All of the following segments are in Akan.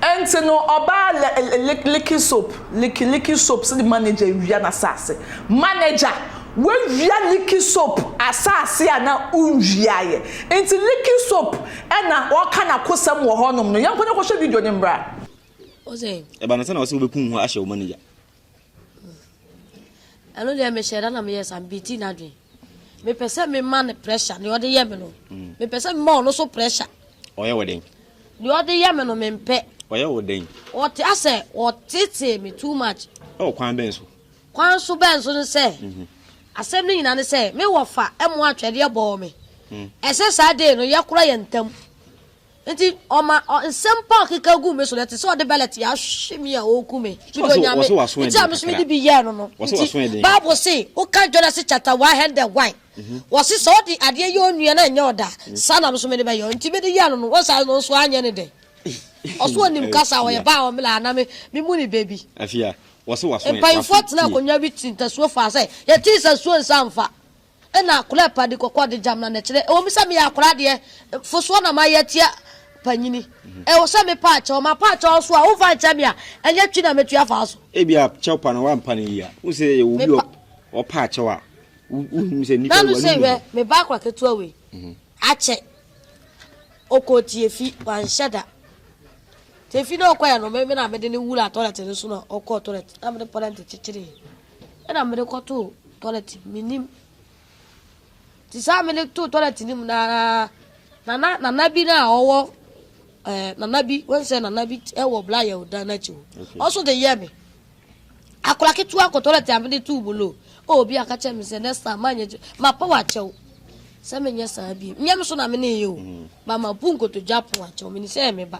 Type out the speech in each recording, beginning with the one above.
Enti no ɔbaa lɛ lɛ lɛ liki soap liki liki soap sɛ ne manager awia n'asaase manager w'awia liki soap asaase a na wonwiaeɛ nti liki soap ɛna ɔɔka n'akosɛm wɔ hɔnom no yɛnkɔ na yɛnkɔhwɛ video no mmra. Ɔsɛ. Ɛba no sɛ na ɔsɛ wobɛkum ho ahyɛ wo manager. ɛno deɛ mehyɛ da na meyɛ sa mebɛti no adwen mepɛ sɛ mema no pressure deɛ ɔde yɛ me no mm. mepɛ sɛ mema ɔno so pressure ɔyɛ wɔ den deɛ ɔde yɛ me no mempɛ ɔyɛ wɔ den ɔte asɛ ɔtetee me too much ɛwɔ kwan bɛn so kwan so bɛn so no sɛ mhm. asɛm no nyina ne sɛ me wɔfa ɛmo atwɛdeɛ bɔɔ me mm. ɛsɛ saa dei no yɛkora yɛ ntam Enti ɔma nsɛm pa a ɔkeka guu me so no, ɛte sɛ ɔde bɛlɛte ahwe me a ɔreku me. Mede Onyame nti a me nso mede bi yɛɛ no no nti, Bible se, wokan Genesis chapter one hundred one, mhm. wɔse sɛ ɔde adeɛ yɛ onua na ɛnyɛ ɔda mhm. saa na me nso mede bɛyɛ nti mede yɛɛ no no wɔsa no nso anyɛ ne dɛ ɔso ɔnim kasa ɔyɛ baa ɔmela ana me me mu ne baabi mpanyinfoɔ tena akonnwa bi ti ntasuo fa sɛ yɛte ntasuo nsa mfa Ɛna akwadaa pa de kɔkɔɔ de gyamena na ɛkyerɛ ɛwɔ mu sɛ meyɛ akwadaa deɛ fosoɔ na mayɛ atia panyini. Ɛwɔ sɛ mepa akyɛw. Mapa akyɛw nso a, womfa nkyɛ me a, ɛnyɛ twi na mɛtwi afa wo so. Ebia kyɛw pa no woampa no yie a, wohu sɛ yɛwɔ obi a ɔpa akyɛw a, wohu sɛ nnipa wɔ anum ne ho. Nanu se, Hwɛ, me ba akwadaa ketewa wei, akyɛ. Ɔkɔɔ Tiefi, wanhyɛ da. Tiefi na ɔkɔeɛ no, me na mede no wuraa tɔlɛt no so na ɔkɔɔ tɔlɛt na mede pɔlɛnte kyekyeree. na mede kɔtoo toilet no mu, mennim. Nti saa a mede too toilet no mu no ara, na na nana bi no a ɔwɔ ɛɛ eh, nana bi, wɔn sɛ nana bi wɔ Blayɛl dan n'akyi hɔ. Okay. Ɔso de yɛ me. Akora ketewa kɔ toilet a mede too mu no, o obi aka kyerɛ me sɛ next time ma nyɛ ma pɔ akyɛw. Sɛ menyɛ saa bi, nyɛ me so na mene yɛ o. Mm. Ba ma bu nkotodwe apɔ akyɛw, menim sɛ ɛyɛ me ba.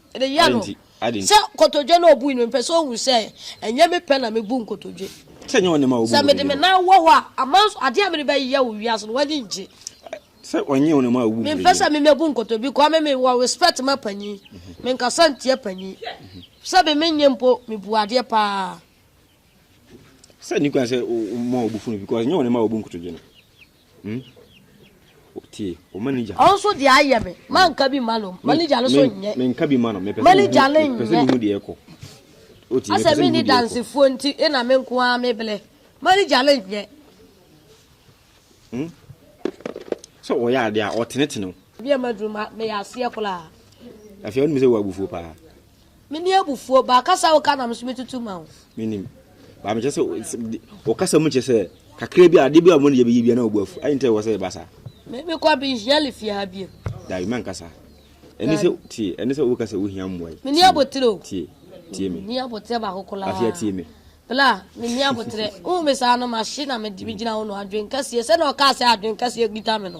Ɛde yɛ no sɛ nkotodwe na ɔbui no, mepɛ sɛ ɔhu sɛ ɛnyɛ me pɛ na mebu nkotodwe. Sɛ ɛnyɛ ɔne ma ɔbu nkotodwe no. Sɛ mede me nan wɔ hɔ a, aman so adeɛ a mede bɛyɛ wɔ wiase no, w'ani ngye. Sɛ ɔnyɛ ɔne ma ɔbu nkotodwe no. Mempɛ sɛ me mɛbu nkotodwe because me mewɔ respect ma panyin. Menkasa ntia panyin. Sɛ me menyɛ mpo, mebu adeɛ paa. Sɛ nni kwan sɛ ɔma ɔbu funu because ɛnyɛ ɔne ma ɔbu nkotodwe no. Hmm? Tie, o manager. Ɔno nso deɛ ayɛ me. Hmm. Manka bi ma no. Manager no so nyɛ. Menka bi ma no. Mepɛ sɛ mehu. Mepɛ sɛ mehu deɛ ɛkɔ. Oti, mepɛ sɛ mehu deɛ ɛkɔ. dansefoɔ nti, ɛna me nko ara mebrɛ. Manager no nyɛ. Hmm? Sɛ ɔyɛ adeɛ a, ɔtenetene o. Bi a maduru ma, meyɛ aseɛ koraa. Afei, ɔnim sɛ wɔ abufuo paa. Menni abufuo, but kasa a woka na me nso metutu ma wo. Menim, but mekyɛ sɛ wo kasa mu kyɛ sɛ kakra bi adeɛ bi a wɔn ne yɛbɛyɛ bi na wɔbu afu. Ayi nti ɛwɔ sɛ yɛba saa. Me me kɔ bi yɛli fie ha bie. Dabi mɛnka saa. Ɛne sɛ tie, ɛne sɛ woka sɛ wohia mmoa yi. Menni abotire o. Tie, tie me. Menni abotire baako koraa. Afei atie me. Bla, menni abotire. Wohu me saa no, mahye na megyina wo no adwene kɛseɛ. Sɛdeɛ ɔkaa sɛ adwene kɛseɛ kita me no.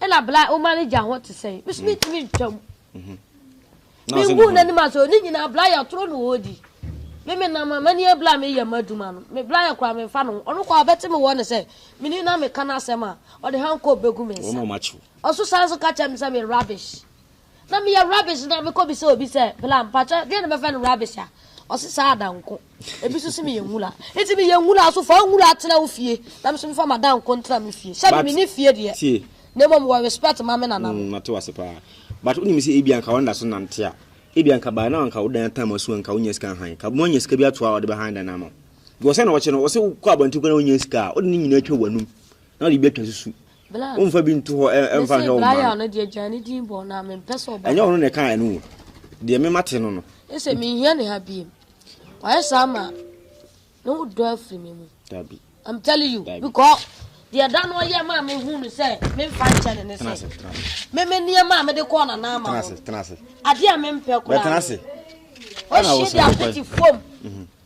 Ɛna bla a woma no gya ho te sɛn? Me so me ntumi ntwa mu. Me ngu n'anim ase o, ne nyinaa bla yɛ toro na ɔredi. Me me nam amani yɛ bla me yɛ m'adwuma no. Me bla yɛ kora me nfa no ho. Ɔno kora ɔbɛte me wɔ ne sɛ, me ni na me ka n'asɛm a, ɔde hankɔɔ bɛgu me nsa. Ɔso san so ka kyerɛ me sɛ me rubbish. Na meyɛ rubbish na mekɔ bisa obi sɛ bla mpakyɛ ɛdeɛn na mɛfrɛ no rubbish a ɔse saa adanko ebi so se meyɛ nwura nti meyɛ nwura so fa nwura tena wo fie na me so mefa m'adanko ntena me fie hyɛ me But mene fie deɛ tie na mmom wɔ respect ma me nana mm, no. mate wo ase paa but wonim sɛ ebia nka wɔnda so nante a ebia nka by now anka wo dan atam asu anka wonya sika hann ka moanya sika bi ato a wɔde bɛhann dan no ama wo because ɛna wɔkyɛ no wɔse wokɔ abɔnten kɔ na wonya sika a wode ne nyinaa atwa w'anum na wode bi atwa susu Womfa bi nto hɔ mfa nhwɛ wo mma no. Ɛnyɛ ɔno na ɛkaa ɛno o. Deɛ me mate no no. Ɛsɛ menhia ne ha biem. Wayɛ saa ma ne ho dɔ afiri me mu. Dabi. I'm telling you because deɛ da no ɔyɛ maa me hu no sɛ memfa nkyɛ ne ne sɛ me me nneɛma a mede kɔɔ na naa ma no adeɛ a mempɛ koraa. Bɛtena ase. Ɔhyɛ de apete fam.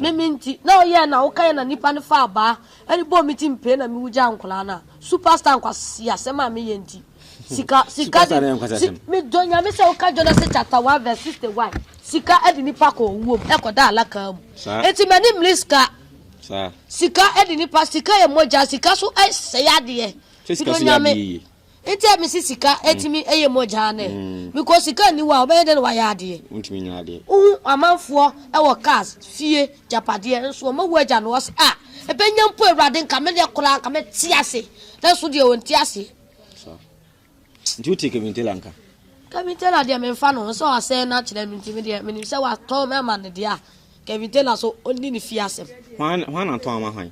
Ne me nti na ɔyɛɛ na wokaeɛ na nipa no faa baa ɛde bɔɔ me ti mpee na me wu gyaa nkoraa no a super star nkwasiasɛm a me yɛ nti sika sika de me dɔ nyame sɛ woka Jonase chapter 1 verse 61 sika ɛde nipa kɔ owuo mu ɛkɔ da alakaa mu eti mani mmiri sika sika ɛde nipa sika yɛ mogya sika so ɛsɛe adeɛ me dɔ nyame Nti a mese sika tumi yɛ mogyaa no ɛ? Because sika nni hɔ a wobɛyɛ dɛn na woayɛ adeɛ? Wontumi nyɛ adeɛ. Wohu amanfoɔ wɔ cars, fie, gyapadeɛ nso wɔma wu agya no ɔse ah ɛbɛnya mpo awurade nka medeɛ koraa nka mɛte ase nanso deɛ ɔnte aseɛ. Saa. Nti wote Kevin Taylor nka? Kevin Taylor deɛ menfa no ho sɛ wasɛe no akyerɛ no nti medeɛ menim sɛ watɔn ama no deɛ a Kevin Taylor nso ɔnni ne fie asɛm. Hwan hwan na tɔn ama hwan?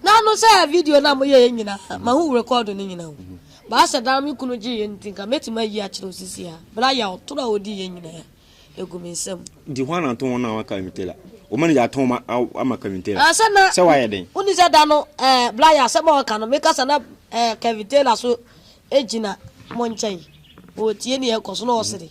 Na ano sɛ video no a moyɛeɛ nyinaa, mahu rekɔɔdo no nyinaa o. Baa sɛ daa me kunu gyeeɛ nti, nka mɛtumi ayi akyerɛ wo seesei ara, berɛ a yɛa ɔtoro a ɔdiiɛ nyinaa agu me nsam. Nti hwan na tɔn wɔn a wɔaka Kevin Taylor? Wo manager atɔn wɔn ama Kevin Taylor? Ɛɛ, sɛ na. Sɛ wayɛ dɛn? Wonni sɛ da no, ɛɛ, berɛ a yɛa asɛm a ɔreka no, me kasa na, ɛɛ, Kevin Taylor nso gyina mo nkyɛn, ɔretie deɛ ɛrekɔ so na ɔresere.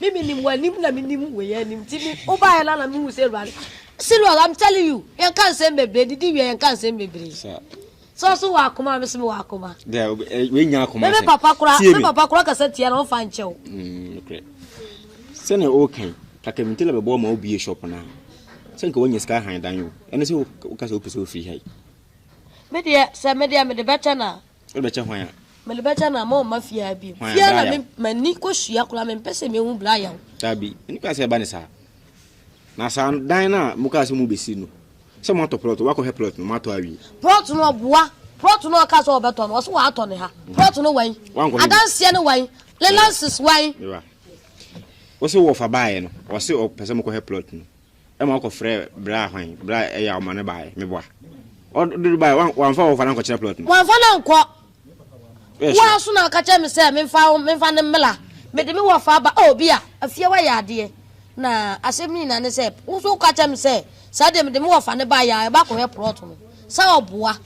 Me menim w'anim na menim wei anim nti me wobaeɛ no na mehu sɛ awurade Silver I'm telling you yɛnka nsɛm bebree didi wie yɛnka nsɛm bebree sɛ ɔso wɔ akoma a mesome wɔ akoma me me papa kora me papa kora kasa tia na ɔmfa nkyɛ wo mm, sɛnea ɔrekan kakabinte la bɛbɔ ma wobie shop no a sɛ nka woanya sika han dan o ɛne sɛ woka sɛ wopɛ sɛ wofiri hai medeɛ sɛ medeɛ mede bɛtɛ no a Wode bɛkyɛ hwan a? Mede bɛkyɛ no a mɔmma fie ha bio. Hwan a? Fie ha na Brian. me- m'ani kɔsua koraa mempɛ sɛ mehu Brian. Dabi, ɛne koraa sɛ ɛba ne saa. Na saa dan no a mokaa sɛ mobɛsi no, sɛ moatɔ plot, woakɔhwɛ plot no, moatɔ awie. Plot no ɔboa. Plot no a ɔkaa sɛ ɔbɛtɔ no, ɔse watɔ ne ha. Plot no wan? Woankɔhwɛ bi? Adanseɛ no wan? Lelances wan? Mewa. Wose wɔfa baeɛ no, ɔse ɔpɛ sɛ mokɔhwɛ plot no. Ɛma ɔkɔ frɛ braa hwan braa ɛyɛ a ɔma no baeɛ meboa ɔ dodo baeɛ wan wanfa wɔfa no ankɔkyerɛ plot no. Wanfa no ankɔ Woyɛ sure? woa so na ɔka kyerɛ me sɛ menfa wo menfa no mmela mede me wɔfa aba oh bia afie wayɛ adeɛ na asɛm no nyinaa ne sɛ wo nso woka kyerɛ me sɛ saa deɛ mede me wɔfa no baeɛ a ɛba akɔhwɛ plot no sɛ ɔboa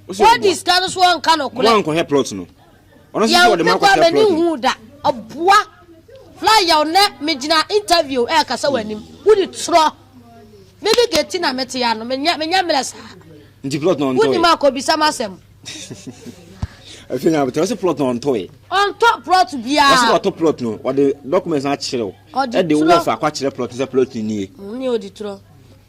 Wose ɔboa? wadi sika no so ɔnka Mo nɔkorɛ. ankɔhwɛ plot no. ɔno nso sɛ ɔde ma kɔhyɛ plot no hu da ɔboa fly yaw nɛ megyina interview ɛkasa wɔ anim wodi torɔ me me geti na mete ya no menya menya mmerɛ saa nti plot no ɔntɔe wonim akɔ bisa ma asɛm afei na abotɛ ɔsɛ plot no ɔntɔe ɔntɔ plot biara ɔsɛ ɔtɔ plot no ɔde documents akyerɛw ɛde wɔfa akɔ akyerɛ plot no sɛ plot no nie ne ɔdi torɔ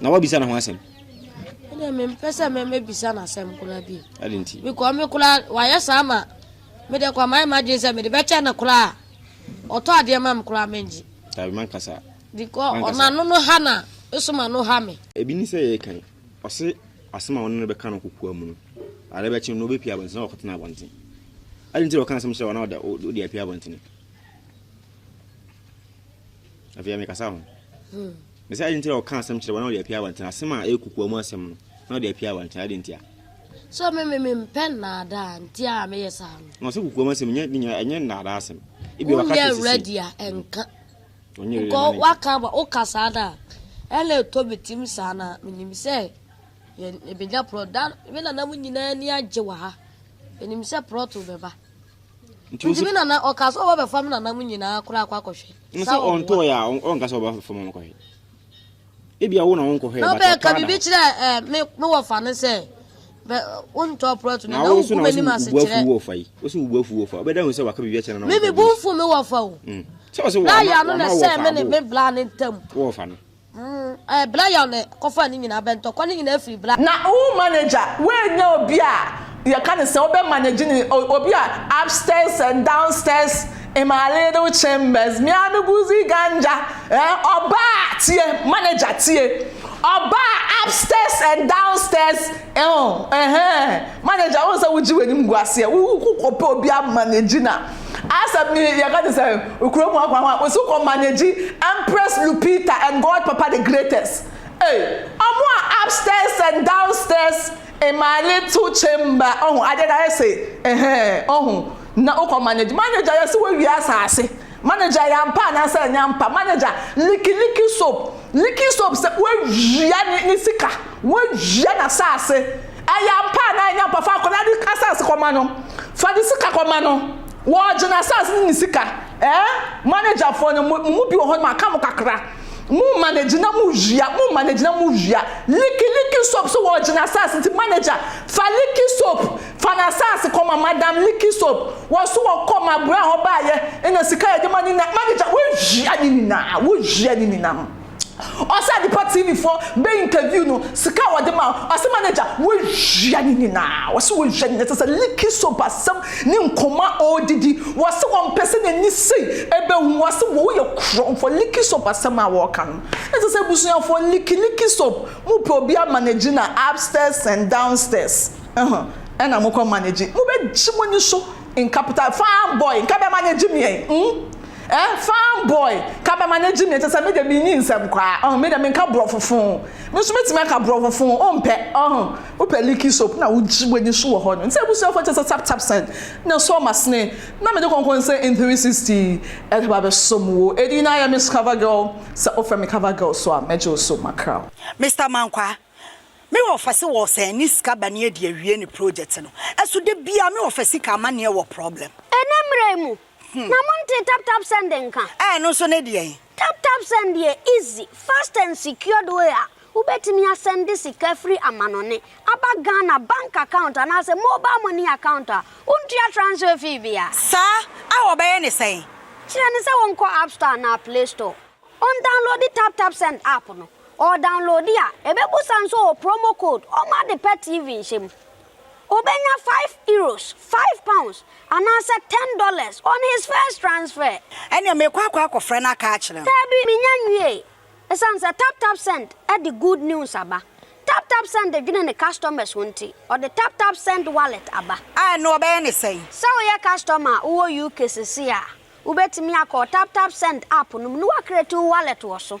na wabisa ne ho asɛm ɛdɛ mempɛ sɛ mɛmɛbisa no asɛm koraa bi ɛde nti mekɔ me koraa wayɛ saa ma mede kɔ amayɛ madwene sɛ mede bɛkyɛ no koraa ɔtɔ adeɛ ma me koraa mengye dabi mankasa because ɔnano no ha na ɛsoma no ha me ebi ni sɛ yɛ kan ɔse asɛm a ɔno no bɛka no kokoa mu no ade bɛkye no wobɛpia abɔnten na wɔkɔtena abɔnten ɛde nti wɔka asɛm kyerɛ wɔn na wode apia abɔnten afei mekasa ho hmm. Na sɛ ade nti na ɔka asɛm kyerɛ wɔn na ɔde apia wɔn nti, na asɛm a ɛyɛ kokoa mu asɛm no, na ɔde apia wɔn nti, ade nti a. Sɛ me me mempɛ nnaadaa nti a meyɛ saa no. Na ɔsɛ kokoa mu asɛm, nyɛ ne nyinaa, ɛnyɛ nnaadaa asɛm. Ebia waka kyerɛ sisi. Wonyɛ ready a ɛnka. Wonyɛ ready a ɛnka. Waka aba, woka saa da a, ɛna ɛtɔ me tim saa na menim sɛ yɛn ebenya plot. Da, me nananom nyinaa ani agye wɔ ha. Menim sɛ plot bɛba. Nti Nti me nana ɔka sɛ ɔbɛbɛfa me nana mu nyinaa koraa akɔ akɔhwɛ. N sɛ ɔntɔɔ yɛ a ɔnka sɛ ɔbɛfa mu akɔhwɛ. Ebi awo na wonkɔhwɛ. Na ɔbɛka biribi kyerɛ eh, me me wɔfa no sɛ wontɔ prɔto no na wogu m'anim ase kyerɛ. Wosi wubu afu wɔfa. Ɔbɛda hu sɛ waka biribi akyerɛ na wɔfa. Me me bu mfu me wɔfa o. Mm. Sɛ ɔsɛ wɔfa. Na yɛ ano na sɛ me ne me bla ne ntam. Wɔfa no. Ɛɛ bla yaw na kɔfaa ne nyinaa bɛ ntɔkwa ne nyinaa firi bla. Na wo manager woannya obi a yɛka ne sɛn wobɛ manage ne obi a upstairs and downstairs in my little chambers me a me guzi ganja eh ɔbaa tie manager tie ɔbaa upstairs and downstairs eh oh eh eh. Manager wohu sɛ wogye w'anim gu aseɛ wo kɔpɛ obi a manage na asɛm ne yɛka te sɛ kuro mu akwa ho a wɔsi wokɔ manage Empress Lupita and God Papa the greatest ei ɔmo a upstairs and downstairs in my little chamber ɔho adeɛ no ayɛ se ɛhɛɛ ɔho na wokɔ manage manager yɛse woawie asaase manager yɛ ampa anaasɛ ɛnyɛ ampa manager liki liki soap liki soap sɛ woawia ne sika woawia n'asaase Ɛyɛ ampa anaa ɛnyɛ ampa? Fa akwadaa no asase kɔma no. Fa ne sika kɔma no. Wɔregye n'asase ne ne sika. Ɛɛ, managerfoɔ no, mo mu bi wɔ hɔ no, maka mo kakra. Mo manage na mo wia, mo manage na mo wia. Liki Liki Soap so wɔregye n'asase nti manager, fa Liki Soap, fa n'asase kɔma Madam Liki Soap. Wɔn so wɔkɔɔ Mabrɛ hɔ baeɛ, ɛna sika a yɛde ma no nyinaa, manager, wowia ne nyinaa, wowia ne nyinaa. Ɔsɛ Adepa TV foɔ bɛ interview no sika a wɔde ma ɔsɛ manager wɔwia ne nyinaa wɔsɛ wɔwia ne nyinaa sɛ sɛ liki soap asɛm ne nkɔmɔ a ɔredidi wɔsɛ wɔmpɛ sɛ n'ani sei ɛbɛhu wɔsɛ wɔ woyɛ korɔmfoɔ liki soap asɛm a wɔreka no na sɛ sɛ abusuafoɔ liki liki soap mopɛ obi a manage na upstairs and downstairs ɛho ɛna mokɔ manage mobɛgye mo ani so nka pota fine boy nka bɛ manage meɛn mm. Eh fine boy ka bɛma no agye me te sɛ me deɛ menni nsɛm koraa ɔho me deɛ menka borɔfo fo me nso mɛtumi aka borɔfo fo wompɛ ɔho wopɛ leaky soap na wogye w'ani so wɔ hɔ no nti abusuafoɔ te sɛ tap tap sɛn na ɛsɔ masene na mede kɔnkɔn sɛ in 360 yi ɛde ba bɛsɔ mu wo ɛdi na ayɛ miss cover girl sɛ wofrɛ me cover girl so a mɛgye wo so makra. Mister Mankwaa, me wɔfa se wɔ sɛn ne sika ba ne adi awie ne project no. Ɛso da biara me wɔfa sika amaneɛ wɔ problem. Ɛnɛ mmerɛ yi mu, Na mo ntee tap tap send nka? Ɛɛ ɛno nso ne deɛn? Tap tap send yɛ easy, fast and secured way a wobɛtumi asɛnde sika firi amanɔne aba Ghana bank account anaasɛ mobile money account a wontua transfer fee biara. Saa a wɔbɛyɛ ne sɛn? Kyerɛ no sɛ wɔnkɔ app store anaa play store, ɔndownloadi tap tap send app no, ɔɔdownloadi a ɛbɛbusa nso ɔɔ promo code ɔmma ade pa TV nhyɛ mu. Obenya five euros, five pounds, anaasɛ ten dollars on his first transfer. Ɛnneɛ meekɔ akɔ akɔfrɛ no aka akyerɛ no. Daabi, mennya nwiei. Esiane sɛ TapTapSend de good news aba, TapTapSend dwene ne customers ho nti, ɔde TapTapSend Wallet aba. A ɛno wɔbɛyɛ no sɛn? Sɛ woyɛ customer a wowɔ UK seesei a, wubetumi akɔ TapTapSend app no mu na woacreate wo wallet wɔ so.